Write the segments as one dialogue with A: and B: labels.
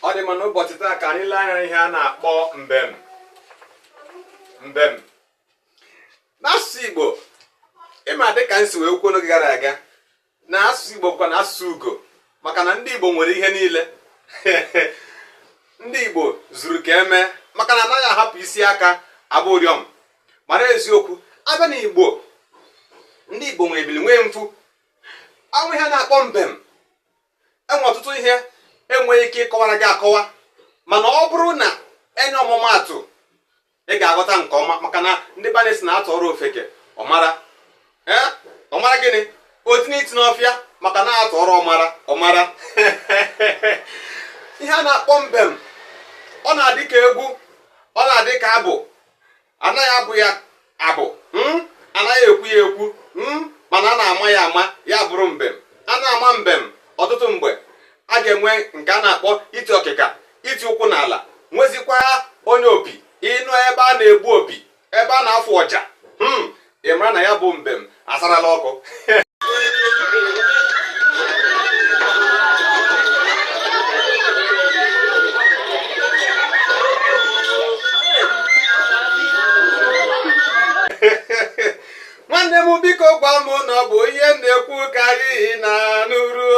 A: ọ dị mma n'ụbọchị taa ka anyị lee anya ihe a na-akpọ mbem mbem n'asụsụ Igbo ịma dịka m si wee kwuo n'oge gara aga na asụsụ Igbo bụkwa na asụsụ ugo maka na ndị Igbo nwere ihe niile ndị Igbo zuru ka e mee maka na anaghị ahapụ isi aka agba ụrịọm mara eziokwu a bịa na Igbo ndị Igbo nwere ebili nwee mpu o nwe ihe a na-akpọ mbem enwe ọtụtụ ihe enweghị ike ịkọwara gị akọwa mana ọ bụrụ na e nye ọmụmaatụ ị ga-aghọta nke ọma maka na ndị be anyị sị na atụọrọ ofeke ọmara ọmara gịnị o tinye isi n'ọfịa maka na atụọrọ ọmara ọ mara ihe a na-akpọ mbem ọ na-adị ka egwu ọ na-adị ka abụ anaghị abụ ya abụ hmm? anaghị ekwu ya ekwu hmm? mana a na-ama ya ama ya bụrụ mbem a na-ama mbem ọtụtụ mgbe a ga-enwe nke a na-akpọ iti ọkịka iti ụkwụ n'ala nwezikwa onye opi ị nụ ebe a na-egbu opi ebe a na-afụ ọja hmm? ị mara na ya bụ mbem asarala ọkụ nwanne m biko gwa m na ọ bụ ihe m na-ekwu ka anyị na-anụrụ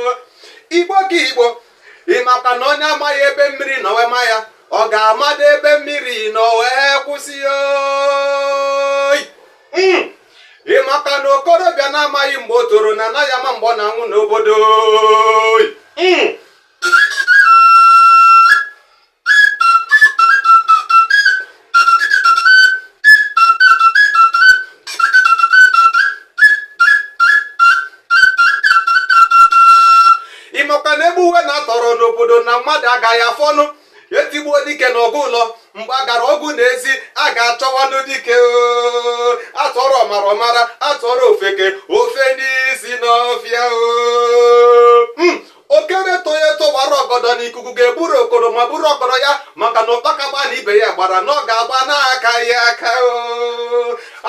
A: o igbo ka igbo ịmakwa na onye amaghị ebe mmiri nọ wee maa ya ọ ga-amadụ ebe mmiri nọ wee kwụsị oyi hmm. ịmakwa na okorobịa na-amaghị mgbe o toro na anaghị ama mgbe ọ na-anwụ n'obodo oyi hmm. ịmakwa na egbuwe na-atọrọ n'obodo na mmadụ agaghị afọnụ etigbuo dike n'ọgụ ụlọ mgbe a gara ọgụ n'ezi a ga-achọwanụ dike oo. atụọrọ ọmara ọ mara atụọrọ ofeke o fenye isi n'ọfịa oo. Mm. okoro etoghị eto wara ọgọdọ na ikuku ga-eburu okoro ma buru ọgọdọ ya maka na ụkpaka gbaa na ibe ya gbara na ọ ga-agba n'akaghị aka o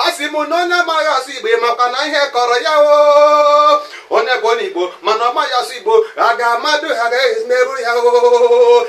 A: a sị m na onye amaghị asụ igbo makwa na ihe kọrọ ya o onye bụ onye igbo mana ọ maghị asụ igbo a ga-amadụ ihe a ga-emerụ ya o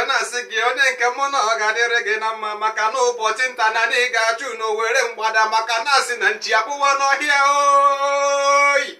A: na-asị gị onye nke mụ na ọ ga-adịrị gị na mma maka na ụbọchị nta na anyị ga-achụ n'owere mgbada maka na a sị na nchi akpụwa n'ọhịa oyi